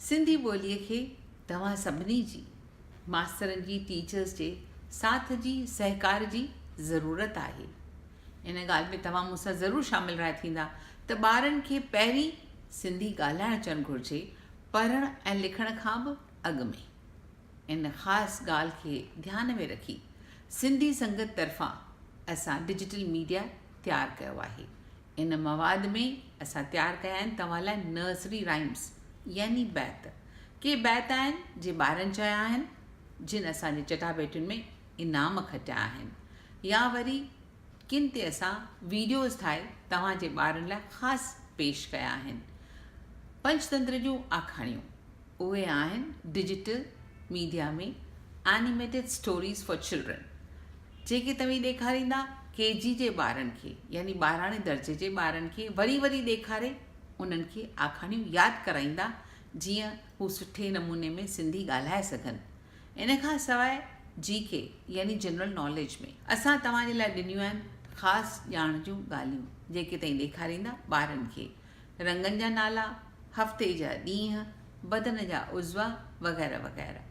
سنڌي ٻوليء کي توهان سڀني جي، ماسترن جي، ٽيچرس جي ساٿ جي، سهڪار جي ضرورت آهي. ان ڳالهه ۾ توهان مون سان ضرور شامل راء ٿيندا ته ٻارن کي پهرين سنڌي ڳالهائڻ اچڻ گهرجي، پڙهڻ ۽ لکڻ کان به اڳ ۾. ان خاص ڳالهه کي ڌيان ۾ رکي سنڌي سنگت طرفان اسان ڊجيٽل ميڊيا تيار ڪيو آهي، ان مواد ۾ اسان تيار ڪيا آهن توهان لاء نرسري رائيمس يعني بيت. ڪي بيت آهن جي ٻارن چيا آهن جن اسان جي چٽاڀيٽين ۾ انعام کٽيا آهن يا وري ڪن تي اسان ويڊيوز ٺاهي توهان جي ٻارن لاء خاص پيش ڪيا آهن. پنچتنتر جون آکاڻيون. اهي آهن digital media ۾ animated stories for children جيڪي توهين ڏيکاريندا ڪي جي جي ٻارن کي يعني ٻاراڻي درجي جي ٻارن کي وري وري ڏيکاري انهن کي آکاڻيون ياد ڪرائيندا جيئن هو سٺي نموني ۾ سنڌي ڳالهائي سگهن ان کان سواء جي ڪي يعني جنرل ناليج ۾ اسان توهان جي لاء ڏنيون آهن خاص ڄاڻ جون ڳالهيون جيڪي توهين ڏيکاريندا ٻارن کي رنگن جا نالا، هفتي جا ڏينهن، بدن جا عضوا وغيره وغيره.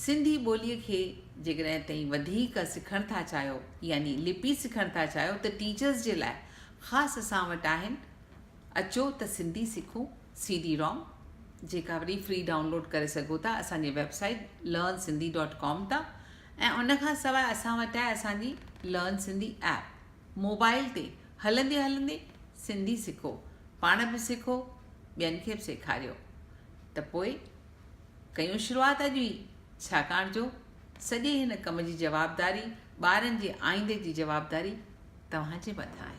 سنڌي ٻوليء کي جيڪڏهن تئين وڌيڪ سکڻ ٿا چاهيو يعني لپي سکڻ ٿا چاهيو ته ٽيچرس جي لاء خاص اسان وٽ آهن اچو ته سنڌي سکون سي ڊي روم جيڪا وري فري ڊائونلوڊ ڪري سگهو ٿا اسان جي website learn Sindhi dot com تان ۽ ان کان سواء اسان وٽ آهي اسان جي لرن سنڌي ايپ موبائل تي هلندي هلندي سنڌي سکو، پاڻ به سکو ٻين کي به سيکاريو ته پوء ڪيون شروعات اڄ ئي ڇاڪاڻ جو سڄي هن ڪم جي جوابداري ٻارن جي آئيندي جي جوابداري توهان جي مٿان آهي.